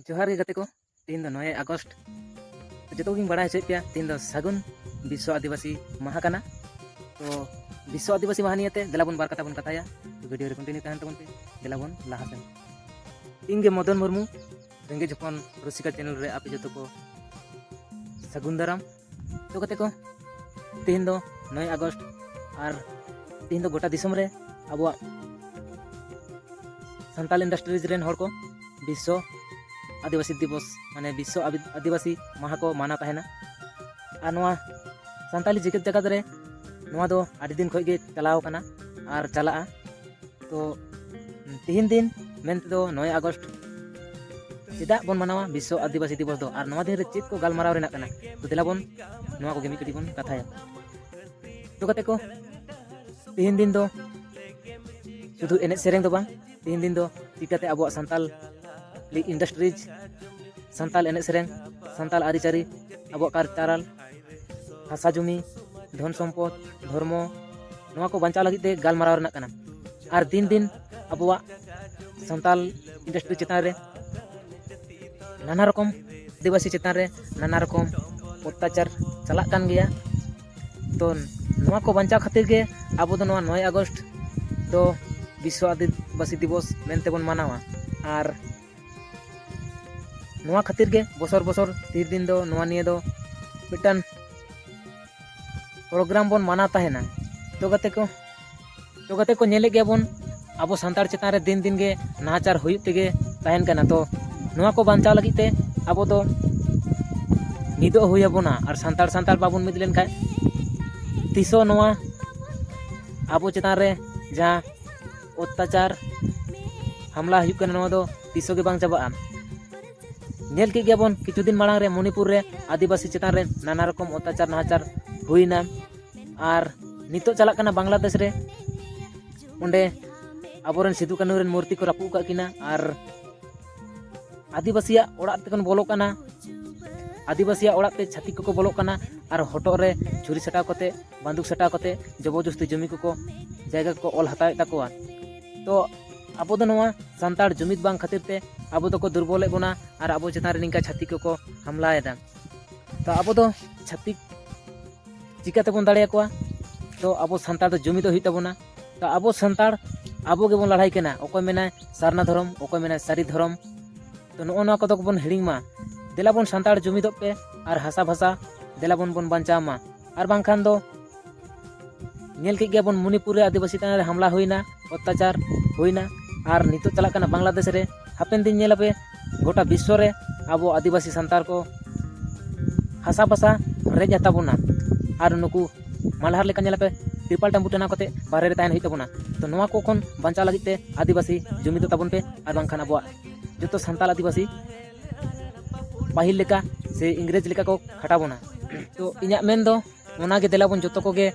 ᱡᱚᱦᱟᱨ ᱜᱮ ᱜᱟᱛᱮ ᱠᱚ ᱛᱮᱦᱮᱧ ᱫᱚ ᱱᱚᱭᱮ ᱟᱜᱚᱥᱴ ᱡᱚᱛᱚ ᱠᱚᱜᱮᱧ ᱵᱟᱲᱟᱭ ᱦᱚᱪᱚᱭᱮᱫ ᱯᱮᱭᱟ ᱛᱮᱦᱮᱧ ᱫᱚ ᱥᱟᱹᱜᱩᱱ ᱵᱤᱥᱥᱚ ᱟᱹᱫᱤᱵᱟᱹᱥᱤ ᱢᱟᱦᱟ ᱠᱟᱱᱟ ᱛᱚ ᱵᱤᱥᱥᱚ ᱟᱹᱫᱤᱵᱟᱹᱥᱤ ᱢᱟᱦᱟ ᱱᱤᱭᱮᱛᱮ ᱫᱮᱞᱟ ᱵᱚᱱ ᱵᱟᱨ ᱠᱟᱛᱷᱟ ᱵᱚᱱ ᱠᱟᱛᱷᱟᱭᱟ ᱛᱚ ᱵᱷᱤᱰᱤᱭᱳ ᱨᱮ ᱠᱚᱱᱴᱤᱱᱤᱭᱩ ᱛᱟᱦᱮᱱ ᱛᱟᱵᱚᱱ ᱯᱮ ᱫᱮᱞᱟ ᱵᱚᱱ ᱞᱟᱦᱟ ᱥᱮᱱ ᱤᱧ ᱜᱮ ᱢᱚᱫᱚᱱ ᱢᱩᱨᱢᱩ ᱨᱮᱸᱜᱮᱡ ᱦᱚᱯᱚᱱ ᱨᱩᱥᱤᱠᱟ ᱪᱮᱱᱮᱞ ᱨᱮ ᱟᱯᱮ ᱡᱚᱛᱚ ᱠᱚ ᱥᱟᱹᱜᱩᱱ ᱫᱟᱨᱟᱢ ᱛᱚ ᱠᱟᱛᱮ ᱠᱚ ᱛᱮᱦᱮᱧ ᱫᱚ ᱱᱚᱭ ᱟᱜᱚᱥᱴ ᱟᱨ ᱛᱮᱦᱮᱧ ᱫᱚ ᱜᱚᱴᱟ ᱫᱤᱥᱚᱢ ᱨᱮ ᱟᱵᱚᱣᱟᱜ ᱥᱟᱱᱛᱟᱞ ᱤᱱᱰᱟᱥᱴᱨᱤᱡᱽ ᱨᱮᱱ ᱦᱚᱲ ᱠᱚ ᱵᱤᱥᱥᱚ ᱟᱹᱫᱤᱵᱟᱹᱥᱤ ᱫᱤᱵᱚᱥ ᱢᱟᱱᱮ ᱵᱤᱥᱥᱚ ᱟᱹᱫᱤᱵᱟᱹᱥᱤ ᱢᱟᱦᱟ ᱠᱚ ᱢᱟᱱᱟᱣ ᱛᱟᱦᱮᱱᱟ ᱟᱨ ᱱᱚᱣᱟ ᱥᱟᱱᱛᱟᱞᱤ ᱡᱮᱜᱮᱛ ᱡᱟᱠᱟᱛ ᱨᱮ ᱱᱚᱣᱟ ᱫᱚ ᱟᱹᱰᱤ ᱫᱤᱱ ᱠᱷᱚᱱ ᱜᱮ ᱪᱟᱞᱟᱣ ᱠᱟᱱᱟ ᱟᱨ ᱪᱟᱞᱟᱜᱼᱟ ᱛᱚ ᱛᱤᱦᱤᱧ ᱫᱤᱱ ᱢᱮᱱ ᱛᱮᱫᱚ ᱱᱚᱭ ᱟᱜᱚᱥᱴ ᱪᱮᱫᱟᱜ ᱵᱚᱱ ᱢᱟᱱᱟᱣᱟ ᱵᱤᱥᱥᱚ ᱟᱹᱫᱤᱵᱟᱹᱥᱤ ᱫᱤᱵᱚᱥ ᱫᱚ ᱟᱨ ᱱᱚᱣᱟ ᱫᱤᱱ ᱨᱮ ᱪᱮᱫ ᱠᱚ ᱜᱟᱞᱢᱟᱨᱟᱣ ᱨᱮᱱᱟᱜ ᱠᱟᱱᱟ ᱛᱚ ᱫᱮᱞᱟ ᱵᱚᱱ ᱱᱚᱣᱟ ᱠᱚᱜᱮ ᱢᱤᱫ ᱠᱟᱹᱴᱤᱡ ᱵᱚᱱ ᱠᱟᱛᱷᱟᱭᱟ ᱛᱚ ᱠᱟᱛᱮ ᱠᱚ ᱛᱤᱦᱤᱧ ᱫᱤᱱ ᱫᱚ ᱥᱩᱫᱷᱩ ᱮᱱᱮᱡ ᱥᱮᱨᱮᱧ ᱫᱚ ᱵᱟᱝ ᱛᱤᱦᱤᱧ ᱫᱤᱱ ᱫᱚ ᱪᱤᱠᱟᱹᱛᱮ ᱟᱵᱚᱣᱟᱜ ᱥᱟᱱᱛᱟᱞ ᱤᱱᱰᱟᱥᱴᱨᱤᱡᱽ ᱥᱟᱱᱛᱟᱞ ᱮᱱᱮᱡ ᱥᱮᱨᱮᱧ ᱥᱟᱱᱛᱟᱞ ᱟᱹᱨᱤᱪᱟᱹᱞᱤ ᱟᱵᱚᱣᱟᱜ ᱠᱟᱞᱪᱟᱨᱟᱞ ᱦᱟᱥᱟ ᱡᱩᱢᱤ ᱫᱷᱚᱱ ᱥᱚᱢᱯᱚᱫ ᱫᱷᱚᱨᱢᱚ ᱱᱚᱣᱟ ᱠᱚ ᱵᱟᱧᱪᱟᱣ ᱞᱟᱹᱜᱤᱫ ᱛᱮ ᱜᱟᱞᱢᱟᱨᱟᱣ ᱨᱮᱱᱟᱜ ᱠᱟᱱᱟ ᱟᱨ ᱫᱤᱱ ᱫᱤᱱ ᱟᱵᱚᱣᱟᱜ ᱥᱟᱱᱛᱟᱞ ᱤᱱᱰᱟᱥᱴᱨᱤ ᱪᱮᱛᱟᱱ ᱨᱮ ᱱᱟᱱᱟ ᱨᱚᱠᱚᱢ ᱟᱹᱫᱤᱵᱟᱹᱥᱤ ᱪᱮᱛᱟᱱ ᱨᱮ ᱱᱟᱱᱟ ᱨᱚᱠᱚᱢ ᱚᱛᱛᱟᱪᱟᱨ ᱪᱟᱞᱟᱜ ᱠᱟᱱ ᱜᱮᱭᱟ ᱛᱚ ᱱᱚᱣᱟ ᱠᱚ ᱵᱟᱧᱪᱟᱣ ᱠᱷᱟᱹᱛᱤᱨ ᱜᱮ ᱟᱵᱚ ᱫᱚ ᱱᱚᱣᱟ ᱱᱚᱭ ᱟᱜᱚᱥᱴ ᱫᱚ ᱵᱤᱥᱥᱚ ᱟᱹᱫᱤᱵᱟᱹᱥᱤ ᱫᱤᱵᱚᱥ ᱢᱮᱱᱛᱮ ᱵᱚᱱ ᱢᱟᱱᱟᱣᱟ ᱟᱨ ᱱᱚᱣᱟ ᱠᱷᱟᱹᱛᱤᱨ ᱜᱮ ᱵᱚᱥᱚᱨ ᱵᱚᱥᱚᱨ ᱛᱤᱨ ᱫᱤᱱ ᱫᱚ ᱱᱚᱣᱟ ᱱᱤᱭᱮ ᱫᱚ ᱢᱤᱫᱴᱟᱝ ᱯᱨᱳᱜᱨᱟᱢ ᱵᱚᱱ ᱢᱟᱱᱟᱣ ᱛᱟᱦᱮᱱᱟ ᱛᱚ ᱜᱟᱛᱮ ᱠᱚ ᱛᱚ ᱜᱟᱛᱮ ᱠᱚ ᱧᱮᱞᱮᱫ ᱜᱮᱭᱟ ᱵᱚᱱ ᱟᱵᱚ ᱥᱟᱱᱛᱟᱲ ᱪᱮᱛᱟᱱ ᱨᱮ ᱫᱤᱱ ᱫᱤᱱ ᱜᱮ ᱱᱟᱦᱟᱪᱟᱨ ᱦᱩᱭᱩᱜ ᱛᱮᱜᱮ ᱛᱟᱦᱮᱱ ᱠᱟᱱᱟ ᱛᱚ ᱱᱚᱣᱟ ᱠᱚ ᱵᱟᱧᱪᱟᱣ ᱞᱟᱹᱜᱤᱫ ᱛᱮ ᱟᱵᱚ ᱫᱚ ᱢᱤᱫᱚᱜ ᱦᱩᱭ ᱟᱵᱚᱱᱟ ᱟᱨ ᱥᱟᱱᱛᱟᱲ ᱥᱟᱱᱛᱟᱲ ᱵᱟᱵᱚᱱ ᱢᱤᱫ ᱞᱮᱱᱠᱷᱟᱱ ᱛᱤᱥ ᱦᱚᱸ ᱱᱚᱣᱟ ᱟᱵᱚ ᱪᱮᱛᱟᱱ ᱨᱮ ᱡᱟᱦᱟᱸ ᱚᱛᱛᱟᱪᱟᱨ ᱦᱟᱢᱞᱟ ᱦᱩᱭᱩᱜ ᱠᱟᱱᱟ ᱱᱚᱣᱟ ᱫᱚ ᱛᱤᱥᱚ ᱜᱮ ᱵᱟᱝ ᱪᱟᱵᱟᱜᱼᱟ ᱧᱮᱞ ᱠᱮᱫ ᱜᱮᱭᱟᱵᱚᱱ ᱠᱤᱪᱷᱩ ᱫᱤᱱ ᱢᱟᱲᱟᱝ ᱨᱮ ᱢᱚᱱᱤᱯᱩᱨ ᱨᱮ ᱟᱹᱫᱤᱵᱟᱹᱥᱤ ᱪᱮᱛᱟᱱ ᱨᱮ ᱱᱟᱱᱟ ᱨᱚᱠᱚᱢ ᱚᱛᱛᱟᱪᱟᱨ ᱱᱟᱦᱟᱪᱟᱨ ᱦᱩᱭᱱᱟ ᱟᱨ ᱱᱤᱛᱚᱜ ᱪᱟᱞᱟᱜ ᱠᱟᱱᱟ ᱵᱟᱝᱞᱟᱫᱮᱥ ᱨᱮ ᱚᱸᱰᱮ ᱟᱵᱚᱨᱮᱱ ᱥᱤᱫᱩ ᱠᱟᱹᱱᱩ ᱨᱮᱱ ᱢᱩᱨᱛᱤ ᱠᱚ ᱨᱟᱹᱯᱩᱫ ᱟᱠᱟᱫ ᱠᱤᱱᱟ ᱟᱨ ᱟᱹᱫᱤᱵᱟᱹᱥᱤᱭᱟᱜ ᱚᱲᱟᱜ ᱛᱮᱠᱚ ᱵᱚᱞᱚᱜ ᱠᱟᱱᱟ ᱟᱹᱫᱤᱵᱟᱹᱥᱤᱭᱟᱜ ᱚᱲᱟᱜ ᱛᱮ ᱪᱷᱟᱹᱛᱤᱠ ᱠᱚᱠᱚ ᱵᱚᱞᱚᱜ ᱠᱟᱱᱟ ᱟᱨ ᱦᱚᱴᱚᱜ ᱨᱮ ᱪᱷᱩᱨᱤ ᱥᱟᱴᱟᱣ ᱠᱟᱛᱮ ᱵᱟᱱᱫᱩᱠ ᱥᱟᱴᱟᱣ ᱠᱟᱛᱮ ᱡᱚᱵᱚᱨᱡᱚᱥᱛᱤ ᱡᱚᱢᱤ ᱠᱚᱠᱚ ᱡᱟᱭᱜᱟ ᱠᱚᱠᱚ ᱚᱞ ᱦᱟᱛᱟᱣᱮᱫ ᱛᱟᱠᱚᱣᱟ ᱛᱚ ᱟᱵᱚ ᱫᱚ ᱱᱚᱣᱟ ᱥᱟᱱᱛᱟᱲ ᱡᱩᱢᱤᱫ ᱵᱟᱝ ᱠᱷᱟᱹᱛᱤᱨ ᱛᱮ ᱟᱵᱚ ᱫᱚᱠᱚ ᱫᱩᱨᱵᱚᱞᱮᱫ ᱵᱚᱱᱟ ᱟᱨ ᱟᱵᱚ ᱪᱮᱛᱟᱱ ᱨᱮ ᱱᱤᱝᱠᱟ ᱪᱷᱟᱹᱛᱤᱠ ᱠᱚᱠᱚ ᱦᱟᱢᱞᱟᱭᱮᱫᱟ ᱛᱚ ᱟᱵᱚ ᱫᱚ ᱪᱷᱟᱹᱛᱤᱠ ᱪᱤᱠᱟᱹ ᱛᱮᱵᱚᱱ ᱫᱟᱲᱮᱭᱟᱠᱚᱣᱟ ᱛᱚ ᱟᱵᱚ ᱥᱟᱱᱛᱟᱲ ᱫᱚ ᱡᱩᱢᱤᱫᱚᱜ ᱦᱩᱭᱩᱜ ᱛᱟᱵᱚᱱᱟ ᱟᱵᱚ ᱥᱟᱱᱛᱟᱲ ᱟᱵᱚ ᱜᱮᱵᱚᱱ ᱞᱟᱲᱦᱟᱭ ᱠᱟᱱᱟ ᱚᱠᱚᱭ ᱢᱮᱱᱟᱭ ᱥᱟᱨᱱᱟ ᱫᱷᱚᱨᱚᱢ ᱚᱠᱚᱭ ᱢᱮᱱᱟᱭ ᱥᱟᱹᱨᱤ ᱫᱷᱚᱨᱚᱢ ᱛᱚ ᱱᱚᱜᱼᱚ ᱱᱚᱣᱟ ᱠᱚᱫᱚ ᱵᱚᱱ ᱦᱤᱲᱤᱧ ᱢᱟ ᱫᱮᱞᱟ ᱵᱚᱱ ᱥᱟᱱᱛᱟᱲ ᱡᱩᱢᱤᱫᱚᱜ ᱯᱮ ᱟᱨ ᱦᱟᱥᱟ ᱵᱷᱟᱥᱟ ᱫᱮᱞᱟ ᱵᱚᱱ ᱵᱚᱱ ᱵᱟᱧᱪᱟᱣ ᱢᱟ ᱟᱨ ᱵᱟᱝᱠᱷᱟᱱ ᱫᱚ ᱧᱮᱞ ᱠᱮᱫ ᱜᱮᱭᱟ ᱵᱚᱱ ᱢᱚᱱᱤᱯᱩᱨ ᱨᱮ ᱟᱹᱫᱤᱵᱟᱹᱥᱤ ᱛᱟᱭᱚᱢ ᱨᱮ ᱦᱟᱢᱞᱟ ᱦᱩᱭᱱᱟ ᱚᱛᱛᱟᱪᱟᱨ ᱦᱩᱭᱱᱟ ᱟᱨ ᱱᱤᱛᱚᱜ ᱪᱟᱞᱟᱜ ᱠᱟᱱᱟ ᱵᱟᱝᱞᱟᱫᱮᱥ ᱨᱮ ᱦᱟᱯᱮᱱ ᱫᱤᱱ ᱧᱮᱞ ᱟᱯᱮ ᱜᱚᱴᱟ ᱵᱤᱥᱥᱚ ᱨᱮ ᱟᱵᱚ ᱟᱹᱫᱤᱵᱟᱹᱥᱤ ᱥᱟᱱᱛᱟᱲ ᱠᱚ ᱦᱟᱥᱟ ᱯᱟᱥᱟ ᱨᱮᱡ ᱟᱛᱟ ᱵᱚᱱᱟ ᱟᱨ ᱱᱩᱠᱩ ᱢᱟᱞᱦᱟᱨ ᱞᱮᱠᱟ ᱧᱮᱞᱟᱯᱮ ᱛᱨᱤᱯᱟᱞ ᱴᱟᱢᱵᱩ ᱴᱟᱱᱟᱣ ᱠᱟᱛᱮ ᱵᱟᱦᱨᱮ ᱨᱮ ᱛᱟᱦᱮᱱ ᱦᱩᱭᱩᱜ ᱛᱟᱵᱚᱱᱟ ᱛᱚ ᱱᱚᱣᱟ ᱠᱚ ᱠᱷᱚᱱ ᱵᱟᱧᱪᱟᱣ ᱞᱟᱹᱜᱤᱫ ᱛᱮ ᱟᱹᱫᱤᱵᱟᱹᱥᱤ ᱡᱩᱢᱤᱫᱚᱜ ᱛᱟᱵᱚᱱ ᱯᱮ ᱟᱨ ᱵᱟᱝᱠᱷᱟᱱ ᱟᱵᱚᱣᱟᱜ ᱡᱚᱛᱚ ᱥᱟᱱᱛᱟᱲ ᱟᱹᱫᱤᱵᱟᱹᱥᱤ ᱯᱟᱹᱦᱤᱞ ᱞᱮᱠᱟ ᱥᱮ ᱤᱝᱨᱮᱡᱽ ᱞᱮᱠᱟ ᱠᱚ ᱠᱷᱟᱴᱟᱣ ᱵᱚᱱᱟ ᱛᱚ ᱤᱧᱟᱹᱜ ᱢᱮᱱ ᱫᱚ ᱚᱱᱟᱜᱮ ᱫᱮᱞᱟ ᱵᱚᱱ ᱡᱚᱛᱚ ᱠᱚᱜᱮ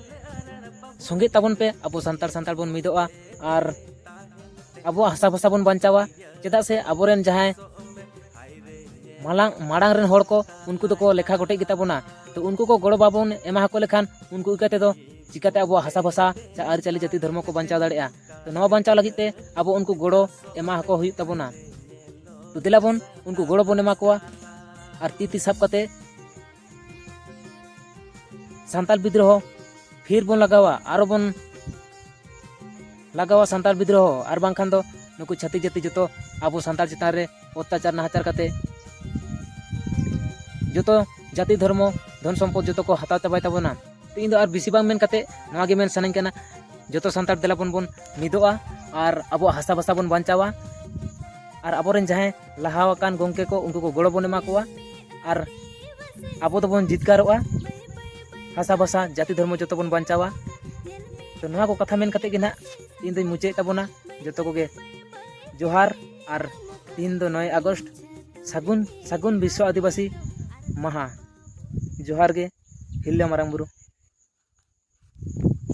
ᱥᱚᱸᱜᱮ ᱛᱟᱵᱚᱱ ᱯᱮ ᱟᱵᱚ ᱥᱟᱱᱛᱟᱲ ᱥᱟᱱᱛᱟᱲ ᱵᱚᱱ ᱢᱤᱫᱚᱜᱼᱟ ᱟᱨ ᱟᱵᱚᱣᱟᱜ ᱦᱟᱥᱟ ᱵᱷᱟᱥᱟ ᱵᱚᱱ ᱵᱟᱧᱪᱟᱣᱟ ᱪᱮᱫᱟᱜ ᱥᱮ ᱟᱵᱚᱨᱮᱱ ᱡᱟᱦᱟᱸᱭ ᱢᱟᱲᱟᱝ ᱢᱟᱲᱟᱝ ᱨᱮᱱ ᱦᱚᱲ ᱠᱚ ᱩᱱᱠᱩ ᱫᱚᱠᱚ ᱞᱮᱠᱷᱟ ᱜᱚᱴᱮᱡ ᱜᱮᱛᱟ ᱵᱚᱱᱟ ᱛᱚ ᱩᱱᱠᱩ ᱠᱚ ᱜᱚᱲᱚ ᱵᱟᱵᱚᱱ ᱮᱢᱟ ᱠᱚ ᱞᱮᱠᱷᱟᱱ ᱩᱱᱠᱩ ᱤᱠᱟᱹ ᱛᱮᱫᱚ ᱪᱤᱠᱟᱹᱛᱮ ᱟᱵᱚᱣᱟᱜ ᱦᱟᱥᱟ ᱵᱷᱟᱥᱟ ᱥᱮ ᱟᱹᱨᱤᱪᱟᱹᱞᱤ ᱡᱟᱹᱛᱤ ᱫᱷᱚᱨᱢᱚ ᱠᱚ ᱵᱟᱧᱪᱟᱣ ᱫᱟᱲᱮᱭᱟᱜᱼᱟ ᱛᱚ ᱱᱚᱣᱟ ᱵᱟᱧᱪᱟᱣ ᱞᱟᱹᱜᱤᱫ ᱛᱮ ᱟᱵᱚ ᱩᱱᱠᱩ ᱜᱚᱲᱚ ᱮᱢᱟ ᱠᱚ ᱦᱩᱭᱩᱜ ᱛᱟᱵᱚᱱᱟ ᱛᱚ ᱫᱮᱞᱟ ᱵᱚᱱ ᱩᱱᱠᱩ ᱜᱚᱲᱚ ᱵᱚᱱ ᱮᱢᱟ ᱠᱚᱣᱟ ᱟᱨ ᱛᱤ ᱛᱤ ᱥᱟᱵ ᱠᱟᱛᱮ ᱥᱟᱱᱛᱟᱲ ᱵᱤᱫᱽᱨᱚᱦᱚ ᱯᱷᱤᱨ ᱵᱚᱱ ᱞᱟᱜᱟᱣᱟ ᱟᱨᱚ ᱵᱚᱱ ᱞᱟᱜᱟᱣᱟ ᱥᱟᱱᱛᱟᱲ ᱵᱤᱫᱽᱨᱚᱦᱚ ᱟᱨ ᱵᱟᱝᱠᱷᱟᱱ ᱫᱚ ᱱᱩᱠᱩ ᱪᱷᱟᱹᱛᱤᱠ ᱡᱟᱹᱛᱤ ᱡᱚᱛᱚ ᱟᱵᱚ ᱥᱟᱱᱛᱟᱲ ᱪᱮᱛᱟᱱ ᱨᱮ ᱚᱛᱛᱟᱪᱟᱨ ᱱᱟᱦᱟᱪᱟᱨ ᱠᱟᱛᱮ ᱡᱚᱛᱚ ᱡᱟᱹᱛᱤ ᱫᱷᱚᱨᱢᱚ ᱫᱷᱚᱱ ᱥᱚᱢᱯᱚᱫ ᱡᱚᱛᱚ ᱠᱚ ᱦᱟᱛᱟᱣ ᱪᱟᱵᱟᱭ ᱛᱟᱵᱚᱱᱟ ᱛᱚ ᱤᱧ ᱫᱚ ᱟᱨ ᱵᱮᱥᱤ ᱵᱟᱝ ᱢᱮᱱ ᱠᱟᱛᱮ ᱱᱚᱣᱟ ᱜᱮ ᱢᱮᱱ ᱥᱟᱱᱟᱧ ᱠᱟᱱᱟ ᱡᱚᱛᱚ ᱥᱟᱱᱛᱟᱲ ᱫᱮᱞᱟ ᱵᱚᱱ ᱵᱚᱱ ᱢᱤᱫᱚᱜᱼᱟ ᱟᱨ ᱟᱵᱚᱣᱟᱜ ᱦᱟᱥᱟ ᱵᱷᱟᱥᱟ ᱵᱚᱱ ᱵᱟᱧᱪᱟᱣᱟ ᱟᱨ ᱟᱵᱚᱨᱮᱱ ᱡᱟᱦᱟᱸᱭ ᱞᱟᱦᱟ ᱟᱠᱟᱱ ᱜᱚᱝᱠᱮ ᱠᱚ ᱩᱱᱠᱩ ᱠᱚ ᱜᱚᱲᱚ ᱵᱚᱱ ᱮᱢᱟ ᱠᱚᱣᱟ ᱟᱨ ᱟᱵᱚ ᱫᱚᱵᱚᱱ ᱡᱤᱛᱠᱟᱨᱚᱜᱼᱟ ᱦᱟᱥᱟ ᱵᱷᱟᱥᱟ ᱡᱟᱹᱛᱤ ᱫᱷᱚᱨᱢᱚ ᱡᱚᱛᱚ ᱵᱚᱱ ᱵᱟᱧᱪᱟᱣᱟ ᱛᱚ ᱱᱚᱣᱟ ᱠᱚ ᱠᱟᱛᱷᱟ ᱢᱮᱱ ᱠᱟᱛᱮ ᱜᱮ ᱱᱟᱦᱟᱜ ᱤᱧ ᱫᱚᱧ ᱢᱩᱪᱟᱹᱫ ᱛᱟᱵᱚᱱᱟ ᱡᱚᱛᱚ ᱠᱚᱜᱮ ᱡᱚᱦᱟᱨ ᱟᱨ ᱛᱤᱦᱤᱧ ᱫᱚ ᱱᱚᱭ ᱟᱜᱚᱥᱴ ᱥᱟᱹᱜᱩᱱ ᱥᱟᱹᱜᱩᱱ ᱵᱤᱥᱥᱚ ᱟᱹᱫᱤᱵᱟᱹᱥᱤ ᱢᱟᱦᱟ ᱡᱚᱦᱟᱨ ᱜᱮ ᱦᱤᱨᱞᱟᱹ ᱢᱟᱨᱟᱝ ᱵᱩᱨᱩ